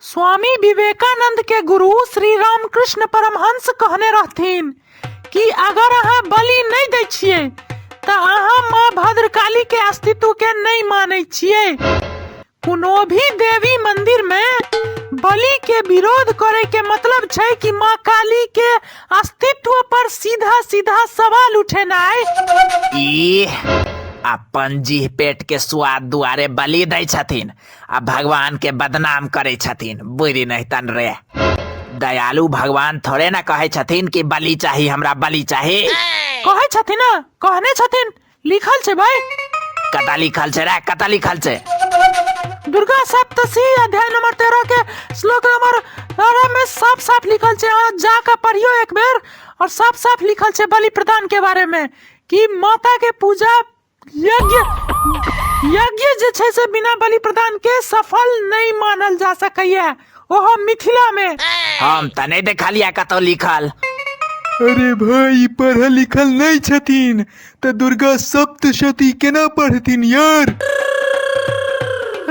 स्वामी विवेकानंद के गुरु श्री रामकृष्ण परमहंस कहने रहथिन कि अगर अहाँ बलि नहीं दै छियै तऽ अहाँ माँ भद्रकाली के अस्तित्व के नहीं मानै छियै कोनो भी देवी मंदिर में बलि के विरोध करे के मतलब छै कि माँ काली के अस्तित्व पर सीधा सीधा सवाल उठेनाइ ई अपन जीह पेट के स्वाद दुआरे बलि दै छथिन आ भगवान के बदनाम करे छथिन बुरी नहीं तन रे दयालु भगवान थोड़े ना कहे छथिन कि बलि चाही हमरा बलि चाही कहै छथिन ना कहने छथिन लिखल छै भाई कता लिखल छै रे कता लिखल छै दुर्गा सप्तशी अध्याय नंबर तेरह के श्लोक नंबर तेरह में साफ साफ लिखल छै अहाँ जाके पढ़ियो एक बेर और साफ साफ लिखल छै बलि प्रदान के बारे में कि माता के पूजा यज्ञ यज्ञ जे छै से बिना बलि प्रदान के सफल नहीं मानल जा सकैया ओहो मिथिला में हम तऽ नहि देखलियै कतौ लिखल अरे भाई पढ़ल लिखल नहीं छथिन तऽ दुर्गा सप्तशती केना पढ़थिन यार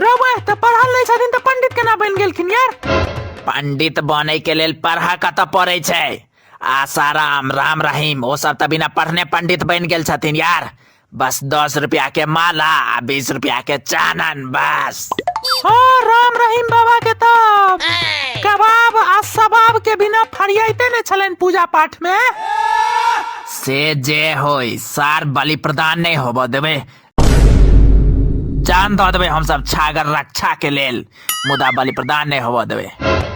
रवै तऽ पढ़ल नहीं छथिन तऽ पंडित केना बन गेलखिन यार पंडित बनै के लेल पढ़ा कतऽ पड़ै छै आसाराम राम रहीम ओ सब तऽ बिना पढ़ने पंडित बनि गेल छथिन यार बस दस रुपया के माला आ बीस रुपया के चानन बस हाँ राम रहीम बाबा के तब कबाब आ सबाब के बिना फरियाइते ने छलन पूजा पाठ में से जे होई सार बलि प्रदान नहीं होबो देवे जान दऽ देबै हमसभ छागर रक्षा के लेल मुदा बलि प्रदान नहि होबऽ देबै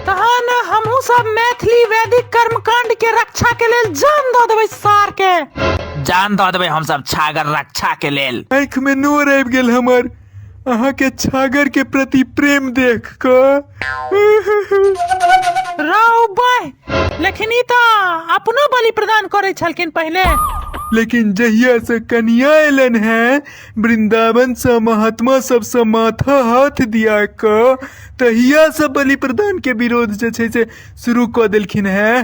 तहन हमहूँ सब मैथिली वैदिक कर्मकांड के रक्षा के लेल जान दऽ देबै सार के जान दऽ देबै हमसभ छागर रक्षा के लेल आँखि में नोर आबि गेल हमर अहाँ के छागर के प्रति प्रेम देख कऽ राव बाह लेकिन ई तऽ अपनो बलि प्रदान करै छलखिन पहिले लेकिन जहिया से कनिया एलन हैं वृंदावन से महात्मा सब से माथा हाथ दिया क तहिया से बलि प्रदान के विरोध जे छै से शुरू क देलखिन हैं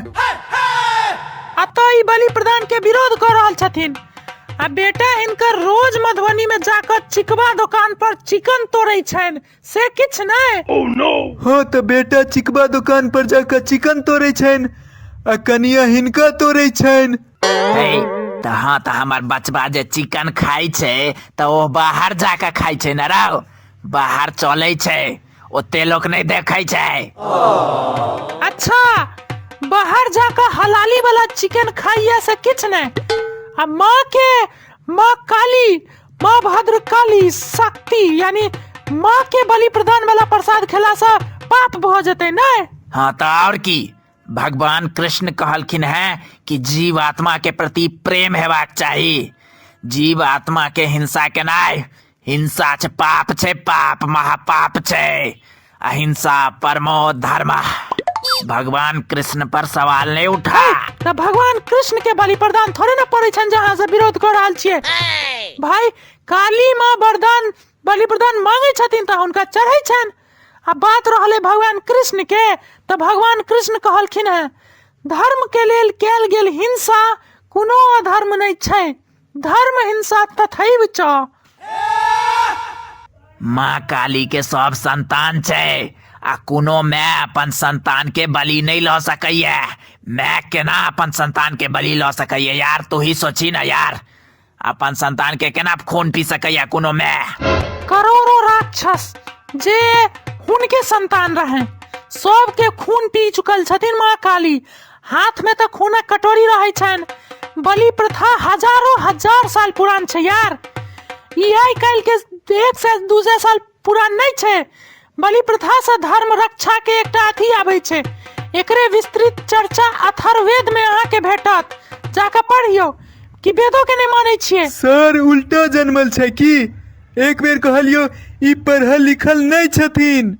आ तो ई बलि प्रदान के विरोध कर रहल छथिन आ बेटा हिनकर रोज मधुबनी में जाकर चिकवा दुकान पर चिकन तोड़े छनि से किछु नहि हँ तऽ बेटा चिकबा दोकान पर जाकऽ चिकन तोड़ै छनि आ कनिया हिनका तोड़ै छनि हे तऽ हँ तऽ हमर बचबा जे चिकन खाइ छै तऽ ओ बाहर जाके खाइ छै ने राव बाहर चलै छै ओते लोक नहि देखै छै अच्छा बाहर जाकऽ हलाली वाला चिकन खाइए से किछु नहि आ माँ के माँ काली माँ भद्रकाली शक्ति यानी माँ के बलि प्रदान वाला प्रसाद खेला से पाप भ जते ने हाँ तो और की भगवान कृष्ण कहलखिन है कि जीव आत्मा के प्रति प्रेम हेबाक चाही जीव आत्मा के हिंसा केनाय हिंसा छ पाप छै पाप महापाप छै अहिंसा परमो धर्म भगवान कृष्ण पर सवाल नहीं उठा ना भगवान कृष्ण के बलि प्रदान थोड़े ना पड़े छन जहाँ से विरोध कर रहल छिए भाई काली माँ वरदान बलि प्रदान मांगे छथिन तऽ हुनका चढ़ै छन आ बात रहले भगवान कृष्ण के तऽ भगवान कृष्ण कहलखिन है धर्म के लेल कैल गेल हिंसा कोनो अधर्म नहीं छै धर्म हिंसा तथैव च माँ काली के सब संतान छै आ कोनो माय अपन संतान के बलि नहीं लऽ सकैया माय केना अपन संतान के बलि लऽ सकैया यार तू ही सोची ना यार अपन संतान के केना खून पी सकैया कोनो माय करोड़ों राक्षस जे हुनके संतान रहे सबके खून पी चुकल छथिन माँ काली हाथ में तो खूना कटोरी रहे छन बलि प्रथा हजारों हजार साल पुरान छै यार ई आइ काल्हि के एक से दू सौ साल पुरान नहीं छै बलि प्रथा से धर्म रक्षा के एकटा अथी आबै छै एकरे विस्तृत चर्चा अथर्ववेद में अहाँ के भेटत जाके पढ़ियो कि वेदो के नहीं मानै छियै सर उल्टा जनमल छै की एक बेर कहलियो ई पढ़ल लिखल नहीं छथिन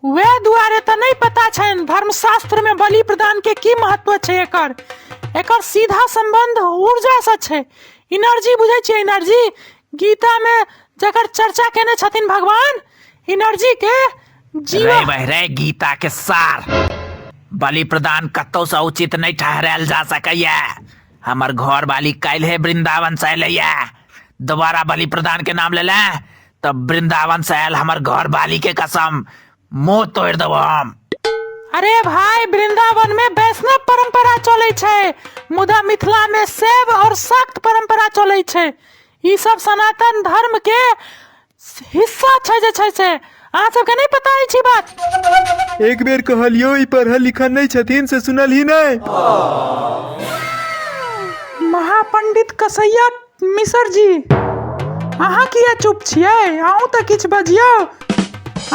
वे दुआरे तऽ नहि पता छनि धर्मशास्त्र में बलि प्रदान के की महत्व छै एकर एकर सीधा संबंध ऊर्जा से छै एनर्जी बुझै छियै एनर्जी गीता में जकर चर्चा केने छथिन भगवान एनर्जी के रे जीवन बह रे गीता के सार बलि प्रदान कतौ से उचित नहीं ठहरायल जा सकैया हमर घर वाली काल्हे वृंदावन से एलैया दोबारा बलि प्रदान के नाम लेला तब वृंदावन से आयल हमर घर वाली के कसम मुंह तोड़ देबो हम अरे भाई वृंदावन में वैष्णव परंपरा चले छै मुदा मिथिला में शैव और शाक्त परंपरा चले छै ई सब सनातन धर्म के हिस्सा छै जे छै से अहाँ सबके नहीं पता अछि बात एक बेर कहलियो ई पढ़ल लिखल नहीं छथिन से सुनल ही नहीं महापंडित कसैया मिसर जी अहाँ किया चुप छियै अहूँ तऽ किछु बजियौ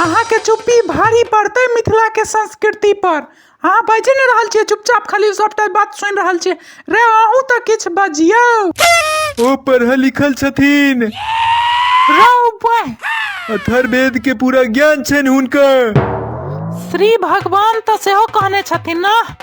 अहाँके चुप्पी भारी पड़तै मिथिलाके संस्कृति पर अहाँ बाजि नहि रहल छियै चुपचाप खाली सभटा बात सुनि रहल छियै रे अहूँ तऽ किछु बजियौ ओ पढ़ल लिखल छथिन रौ बह अथर्वेद के पूरा ज्ञान छनि हुनकर श्री भगवान तऽ सेहो कहने छथिन ने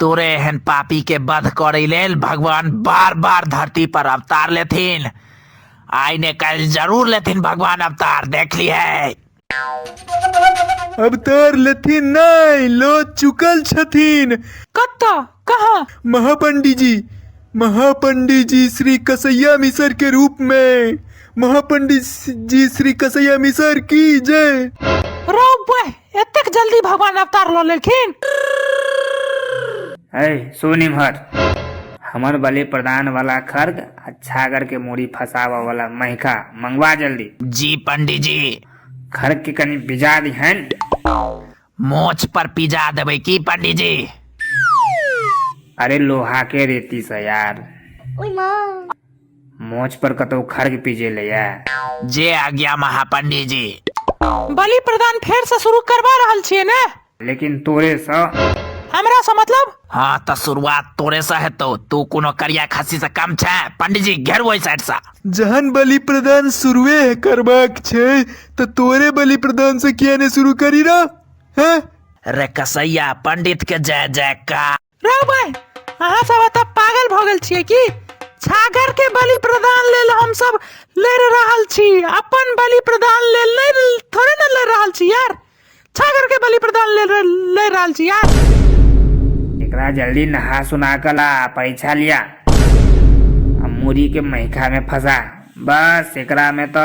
तोरे एहन पापी के वध करे लेल भगवान बार बार धरती पर अवतार लेथिन आइ ने काल्हि जरूर लेथिन भगवान अवतार देख लिहे अवतार लेथिन नहीं लो चुकल छथिन कत्ता कहाँ महापंडी जी महापंडी जी श्री कसैया मिसर के रूप में महापंडी जी श्री कसैया मिसर की जय रौ बह एतेक जल्दी भगवान अवतार लऽ लेलखिन है सुन इम्हर हमर बलि प्रदान वाला खर्ग आ छागर के मूड़ी फसावा वाला महिका मंगवा जल्दी जी पंडी जी खर्ग के कनी बिजा दिहन मोछ पर पिजा देबै की पंडी जी अरे लोहा के रेती से यार ओई माँ मोछ पर कतौ खर्ग पीजे ले या जे आज्ञा महापंडी जी बलि प्रदान फेर से शुरू करवा रहल छियै ने लेकिन तोरे सँ हमरा से मतलब हाँ तऽ शुरुआत तोरे से हेतौ तू कोनो करिया खस्सी से कम छै पंडी जी घेर ओहि साइड से जहन बलि प्रदान शुरुए करबाक छै तऽ तोरे बलि प्रदान से किया ने शुरू करी रह हैं रे कसैया पंडित के जय जयकार रे भाई अहाँ सब एतऽ पागल भऽ गेल छियै की छागर के बलि प्रदान लेल हम सब लड़ रहल छी अपन बलि प्रदान लेल नहीं थोड़े ना लड़ रहल छी यार छागर के बलि प्रदान लेल लड़ रहल छी यार एकरा जल्दी नहा सुना कर ला परीक्षा लिया आ मूरी के मैखा में फंसा बस एकरा में तो